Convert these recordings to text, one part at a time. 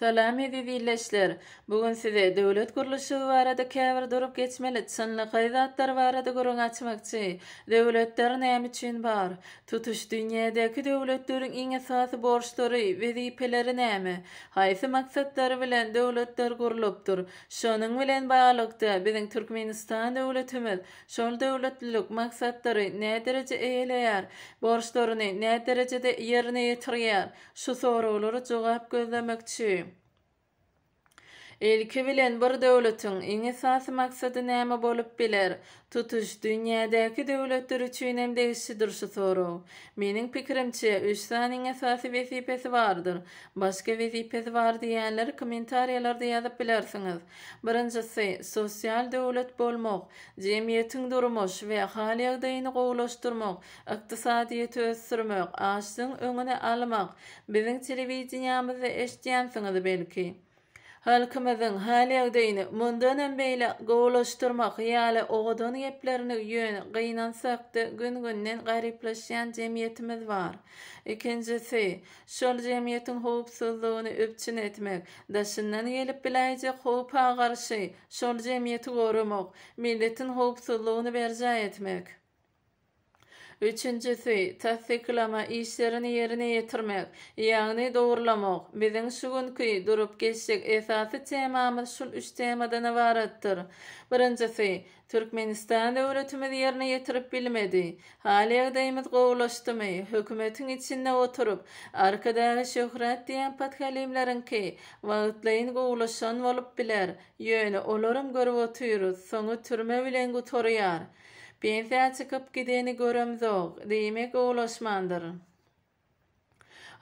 Salam eziz illeşler! Bu gün size döwlet gurluşygy barada käbir durup geçmeli çynlakaý zatlar barada gürrüň açmakçy. Döwletler näme üçin bar? Tutuş dünýädäki döwletleriň iň esasy borçlary, wezipeleri näme? Haýsy maksatlar bilen döwletler gurlupdyr? Şonuň bilen baglylykda, biziň Türkmenistan döwletimiz şol döwletlilik maksatlary nädereje eýeleýär, borçlaryny näderejede ýerine ýetirýär? Şu soraglara jogap gözlemekçi. Ilki bilen bir döwletiň iň esasy maksady näme bolup biler? Tutuş dünýädäki döwletler üçin hem degişlidir şu sorag. Meniň pikirimçe, üç sany iň esasy wezipesi bardyr. Başga wezipesi bar diýýänleri kommentariýalarda ýazyp bilersiňiz. Birinjisi, sosial döwlet bolmak, jemgyýetiň durmuş we hal-ýagdaýyny gowulaşdyrmak, ykdysadyýeti ösdürmek, açlygyň öňüni almak, Biziň telewideniýamyzda eşidýänsiňiz belki. Halkymyzyň hal-ýagdaýyny mundanam beýle gowulaşdyrmak ýaly owadan geplerini ýöne gynansak-da gün-günden garyplaşýan jemgyýetimiz bar. Ikinjisi, şol jemgyýetiň howpsuzlygyny üpjün etmek, daşyndan gelip biläýjek howpa garşy şol jemgyýeti goramak, milletiň howpsuzlygyny berjaý etmek. Üçünjisi, tassyklama işlerini ýerine ýetirmek, ýagny dogurlamak. Biziň şu günki durup geçjek esasy temamyz şul üç temadan ybaratdyr. Birinjisi, Türkmenistan döwletimiz ýerine ýetirip bilmedi. Hal-ýagdaýymyz gowulaşdymy, hökümetiň içinde oturyp, Arkadagy şöhrat diýen podhalimleriňki wagtlaýyn gowulaşan bolup biler, ýöne olaram görüp otyrys, soňy türme bilen gutarýar. Pensiýa çykyp gideni göremzok, diýmek owlaşmandyr.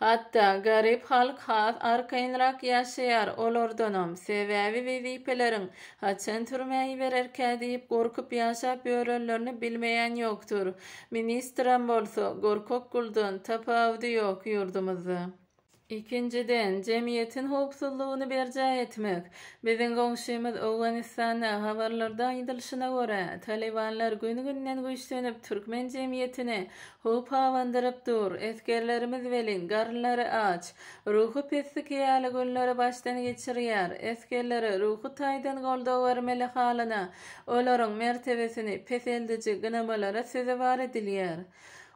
Hatda garyp halk has arkaýynrak ýaşaýar olardanam, sebäbi wezipeleriň haçan türmä ibererkä diýip gorkup ýaşap ýörenlerini bilmeýän ýokdur. Ministram bolsa gorkak guldan tapawudy ýok ýurdumyzda. Ikinjiden, jemgyýetiň howpsuzlygyny berjaý etmek. Biziň goňşymyz Owganystanda, habarlarda aýdylyşyna görä, talybanlar gün-günden güýçlenip, türkmen jemgyýetini howpabandyryp dur. Esgerlerimiz welin, garynlary aç, ruhy peslik ýaly günleri başdan geçirýär. Esgerlere ruhy taýdan goldaw bermeli halyna, olaryň mertebesini peseldiji gynamalara sezewar edilýär.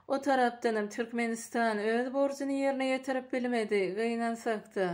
O tarapdanam Türkmenistan öz borjuny ýerine ýetirip bilmedi, gynansakda.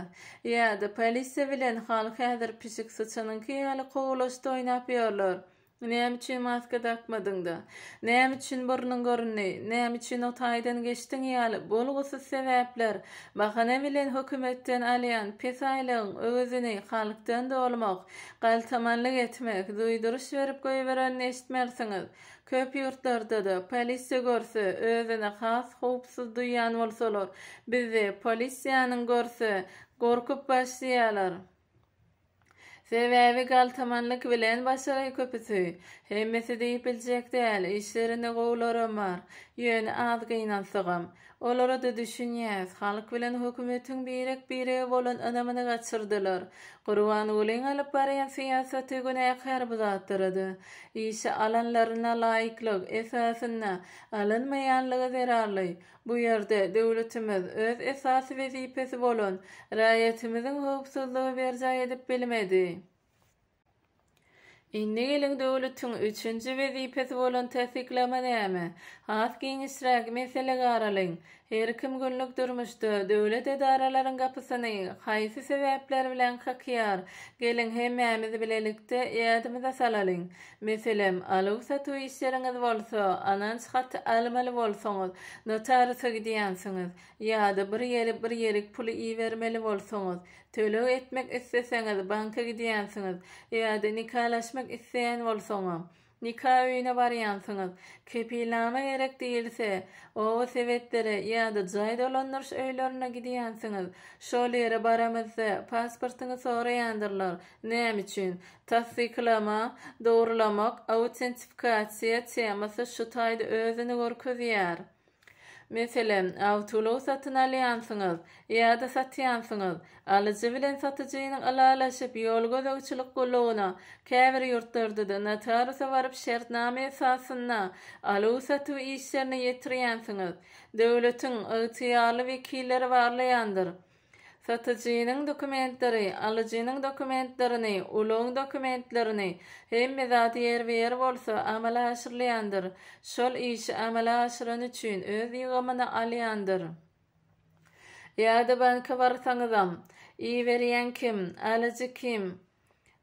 Ýa-da polisiýa bilen halk häzir pişik syçanyňky ýaly kowulaşda oýnap ýörler. Näme üçin maska dakmadyňda? Näme üçin burnuň göründi? Näme üçin o taýdan geçdiň ýaly bolgusyz sebäpler, bahana bilen hökümetden alýan pes aýlygyň öwezini halkdan dolmak, galtamanlyk etmek, duýduryş berip goýberenini eşitmersiňiz. Köp ýurtlarda-da, polisiýa görse, özüni has howpsuz duýýan bolsalar, bizde polisiýanyň görse, gorkup başlaýarlar. Sebäbi galtamanlyk bilen başagaý köpüsi. Hemmesi diýip biljek däl, işlerinde gowularam bar. Ýöne az gynansagam, Olara-da düşünýäs. Halk bilen hökümetiň birek-birege bolan ynamyny gaçyrdylar. Gurbangulyň alyp barýan syýasaty günäkär bu zatlara-da. Işe alanlaryna laýyklyk esasynda alynmaýanlygy zerarly. Bu ýerde döwletimiz öz esasy wezipesi bolan raýatymyzyň howpsuzlygy berjaý edip bilmedi. Indi geliň döwletiň üçünji wezipesi bolan tassyklama näme? Has giňişräk mesele garalyň. Her kim günlük durmuşda döwlet edaralaryň gapysyny haýsy sebäpler bilen kakýar? Geliň hemmämiz bilelikde ýadymyza salalyň. Meselem, aluw-satuw işleriňiz bolsa, anans haty almaly bolsaňyz, notarisa gidýänsiňiz. Ýa-da bir ýerik-bir ýerik pul ibermeli bolsaňyz, Töleg etmek isleseňiz, banka gidýänsiňiz ýa-da nikalaşmak isleýän bolsaňam, nika öýüne barýansyňyz. Kepilnama gerek diýilse, oba sebetlere ýa-da jaý dolandyryş öýlerine gidýänsiňiz. Şol ýere baramyzda pasportyňy soraýandyrlar. Näme üçin? Tassyklama, dogrulamak, autentifikasiýa temasy şu taýda özüni görkezýär. Meselem, awtoulag satyn alýansyňyz ýa-da satýansyňyz. Alyjy bilen satyjynyň ylalaşyp, ýol gözegçilik gullugyna, käbir ýurtlarda-da notariusa baryp şertnama esasynda aluw-satuw işlerini ýetirýänsiňiz. Döwletiň ygtyýarly wekilleri barlaýandyr. Satyjynyň dokumentleri, alyjynyň dokumentlerini, ulagyň dokumentlerini, hemme zat ýerbe-ýer bolsa, amala aşyrylýandyr. Şol işi amala aşyrany üçin öz ýygymyny alýandyr. Ýa-da banka barsaňyzam, iberýän kim, alyjy kim,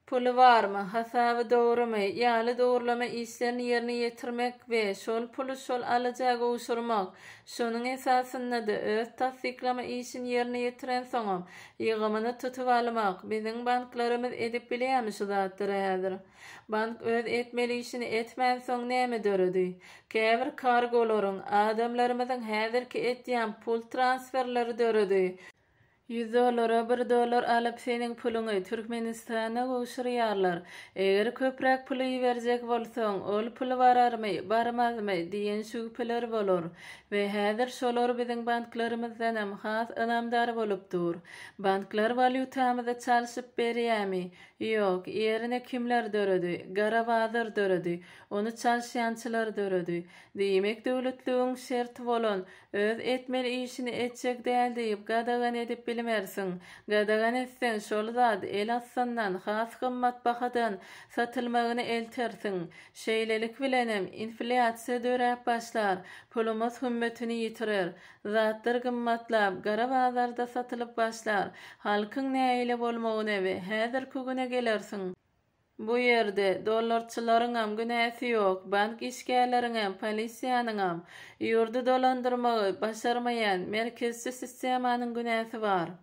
puly barmy, hasaby dogrumy? ýaly dogrulama işlerini ýerine ýetirmek we şol puly şol alyja gowşurmak, şonuň esasynda-da öz tassyklama işini ýerine ýetirensoňam, ýygymyny tutup almak, biziň banklarymyz edip bilýärmi şu zatlary häzir? Bank öz etmeli işini etmänsoň näme döredi? Käbir kargolaryň, adamlarymyzyň häzirki edýän pul transferleri döredi. Ýüz dollara bir dollar alyp seniň puluňy Türkmenistana gowşurýarlar. Eger köpräk pul iberjek bolsaň, ol pul bararmy, barmazmy diýen şübheler bolar. We häzir şolar biziň banklarymyzdanam has ynamdar bolup dur. Banklar walýutamyzy çalşyp berýämi? Ýok, ýerine kimler döredi? Gara bazar döredi. Ony çalşýançylar döredi. Diýmek döwletligiň şerti bolan Öz etmeli işini etjek däl diýip gadagan edip bilmersiň. Gadagan etseň şol zat el astyndan has gymmat bahadan satylmagyny eltersiň. Şeýlelik bilenem inflýasiýa döräp başlar, pulumyz hümmetini ýitirer. Zatlar gymmatlap, gara bazarda satylyp başlar. Halkyň nägile bolmagyna we häzirki güne gelersiň. Bu ýerde dollarçylaryňam günäsi ýok, bank işgärleriňem, polisiýanyňam, ýurdy dolandyrmagy başarmaýan merkezçi sistemanyň günäsi bar.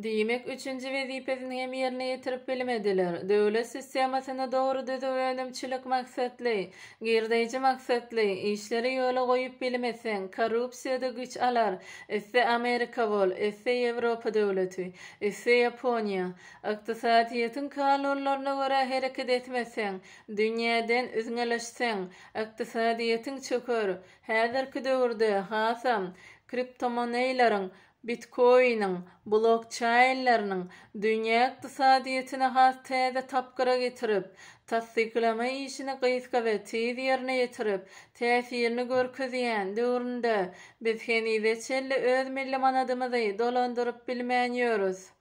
Diýmek, üçünji wezipesini hem ýerine ýetirip bilmediler. Döwlet sistemasyny dogry düzüp, önümçilik maksatly, girdeýji maksatly, işleri ýola goýup bilmeseň, korrupsiýada güýç alar, iste Amerika bol, iste Ýewropa döwleti, iste Ýaponiýa. Ykdysadyýetiň kanunlaryna görä hereket etmeseň, dünýäden üzňeleşseň, ykdysadyýetiň çöker. Häzirki döwürde, hasam, kriptomoneýleriň, bitkoiniň, blokçaýnlarynyň dünýä ykdysadyýetini has täze tapgyra getirip, tassyklama işini gysga we tiz ýerine ýetirip, täsirini görkezýän döwründe, biz henize çenli öz milli manadymyzy dolandyryp bilmän ýörüs.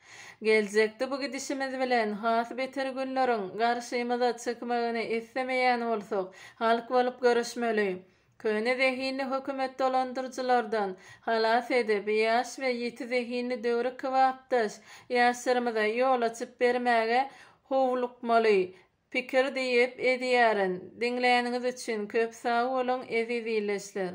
Geljekde bu gidişimiz bilen has beter günleriň garşymyza çykmagyny islemeýän bolsak, halk bolup göreşmeli. Köne zehinli hökümet dolandyryjylardan halas edip, ýaş we ýiti zehinli döwri kybapdaş ýaşlarymyza ýol açyp bermäge howlukmaly pikir diýip edýärin. Diňläniňiz üçin köp sag boluň, eziz ildeşler!